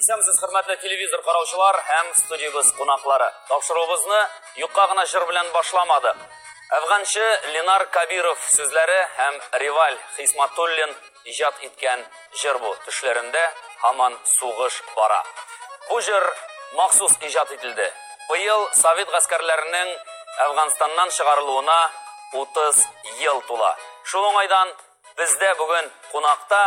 Исәнмесез, хөрмәтле телевизор караучылар һәм студиябез кунаклары. Тапшыруыбызны юкка гына җыр белән башламады. Әфганчы Ленар Кабиров сүзләре һәм Риваль Хисматуллин иҗат иткән җыр бу. Төшләрендә һаман сугыш бара. Бу җыр махсус иҗат ителде. Быел совет гаскәрләренең Әфганстаннан чыгарылуына 30 ел тула. Шул уңайдан Бездә бүген кунакта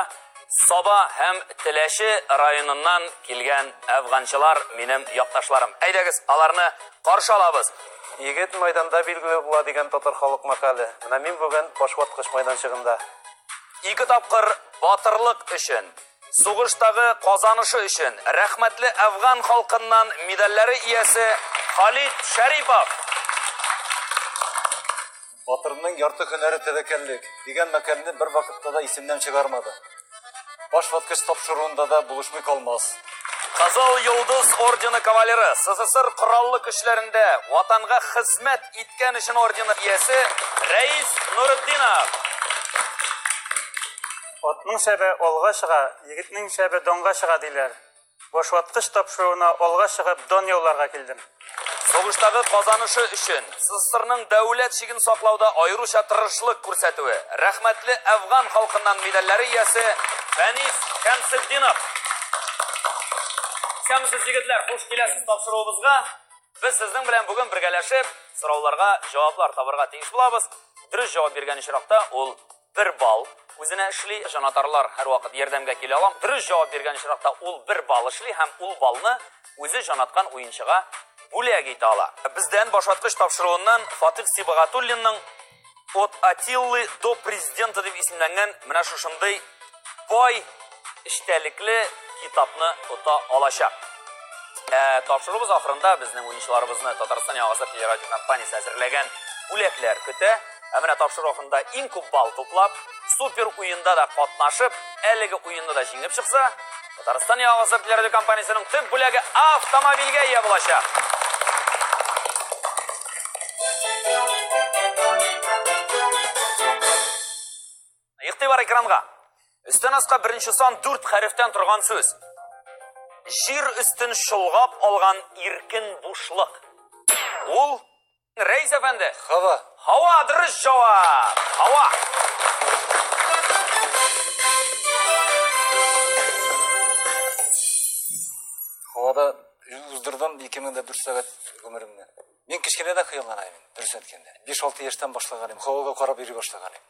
Саба һәм Теләче районыннан килгән әфганчылар, минем якташларым. Әйдәгез, аларны каршы алабыз. Егет майданда билгеле була дигән татар халык мәкале. Менә мин бүген башваткыч майданчыгында. Ике тапкыр батырлык өчен, сугыштагы казанышы өчен рәхмәтле әфган халкыннан медальләре иясе Халит Шәрипов. Батырның ярты һөнәре тәвәккәллек дигән мәкальне бер вакытта да исемнән чыгармады. Баш ваткыч тапшыруында да булышмый калмас. Кызыл Йолдыз ордены кавалеры, СССР Кораллы көчләрендә Ватанга хезмәт иткән өчен ордены иясе Рәис Нуретдинов. Атның шәбе алга чыга, егетнең шәбе данга чыга, диләр. Башваткыч тапшыруына алга чыгып дан яуларга килдем. Сугыштагы казанышы өчен СССРның дәүләт чиген саклауда аеруча тырышлык күрсәтүе, рәхмәтле әфган халкыннан медальләре иясе Фәнис Шәмсетдинов. Исәнмесез, егетләр! Хуш киләсез тапшыруыбызга. Без сезнең белән бүген бергәләшеп сорауларга җаваплар табарга тиеш булабыз. Дөрес җавап биргән очракта, ул бер балл үзенә эшли. Җанатарлар һәрвакыт ярдәмгә килә алам. Дөрес җавап биргән очракта ул бер балл эшли һәм ул баллны үзе җанаткан уенчыга бүләк итә ала. Бездән башваткыч тапшыруыннан Фатих Сибагатуллинның От Атиллы до президента дип исемләнгән менә шушындый бай эчтәлекле китапны ота алачак. Ә тапшыруыбыз ахырында безнең уенчыларыбызны Татарстан яңасы телерадиокомпаниясе әзерләгән бүләкләр көтә. Ә менә тапшыру ахырында иң күп балл туплап, супер уенда да катнашып, әлеге уенны да җиңеп чыкса, Татарстан яңасы телерадиокомпаниясенең төп бүләге автомобильгә ия булачак. Игътибар экранга. Өстен аска беренче сан дүрт хәрефтән торган сүз. Җир өстен шылгап алган иркен бушлык. Ул Рәйс әфәнде. Хава. Хава дөрес җавап. Хава. Хавада уздырдым 2004 сәгать гомеремне. Мин кечкенәдән хыялланам, дөрес әйткәндә. 5-6 яшьтән башлаганым, хавага карап йөри башлаганым.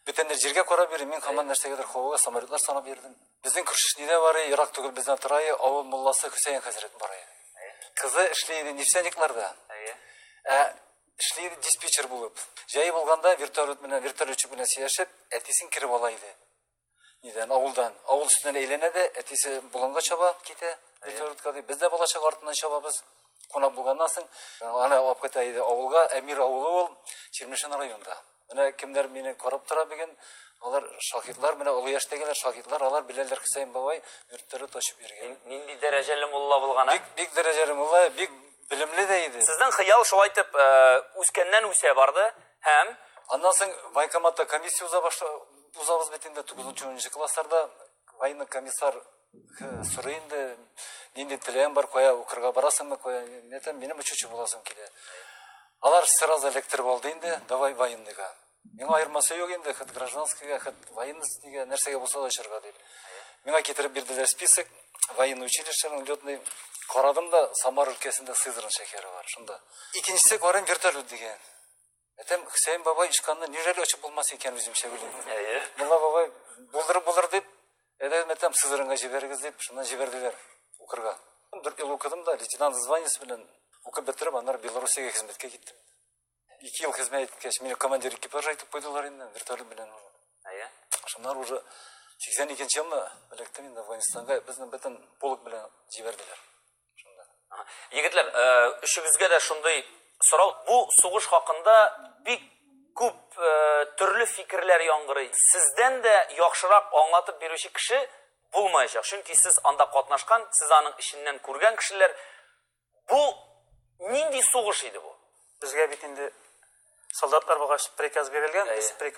Бүтәннәр җиргә карап йөри, мин хаман нәрсәгәдер һавага самолетлар санап йөрдем. Безнең күршеш нидә барый, ерак түгел бездән торае, авыл мулласы Хөсәен хәзрәт барый. Кызы эшли иде нефтяникларда. Ә эшли иде диспетчер булып. Җае булганда вертолет белән, вертолетчик белән сөйләшеп, әтисен кереп ала иде. Нидән авылдан, авыл өстенә әйләнә дә, әтисе болынга чаба, китә. Электродка дип, без дә балачак артыннан чабабыз. Кунак булганнан соң, ана алып кайта иде авылга, Әмир авылы ул, Чирмешән районында. Менә кемнәр мине карап тора бүген, алар шаһитлар, менә олы яшьтәгеләр шаһитлар, алар беләләр Хөсәен бабай йортлары тачып йөргән. Нинди дәрәҗәле мулла булган, а? Бик, бик дәрәҗәле мулла, бик Белемле дә иде. Сезнең хыял шулай итеп э, үскәннән үсә барды һәм Аннан соң военкоматта комиссия уза башла, узабыз бит инде 9-10 классларда военный комиссар э, сорый инде нинди теләгең бар, кая укырга барасыңмы, кая нетем, минем учучы буласым килә. Алар сразу электр булды инде, давай военныйга. Миңа аермасы юк инде, хет гражданскийга, хет военностьнигә, нәрсәгә булса да очырга дип. Миңа китереп бирделәр список, военный училищеның летный. Карадым да, Самар өлкәсендә Сызран шәһәре бар, шунда. Икенчесе карыйм вертолет дигән. Әтәм Хөсәен бабай ишканны нирәле очып булмас икән үземчә уйлыйм. Әйе. Мулла бабай булдырып булыр дип, әдәм әтәм Сызранга җибәрегез дип, шуннан җибәрделәр укырга. Дүрт ел укыдым да, лейтенант званиесе белән укып бетереп, аннары Белоруссиягә хезмәткә киттем. Ике ел хезмәт иткәч, мине командир экипажа итеп куйдылар инде, вертолет белән. Әйе. Шуннар уже 82 нче елны электем инде Афганистанга, безне бөтен полк белән җибәрделәр. Шунда. Егетләр, э, өчебезгә дә шундый сорау. Бу сугыш хакында бик күп э, төрле фикерләр яңгырый. Сездән дә яхшырак аңлатып бирүче кеше булмаячак. Чөнки сез анда катнашкан, сез аның эченнән күргән кешеләр. Бу нинди сугыш иде бу? Безгә бит инде солдатлар булгач приказ бирелгән, без приказ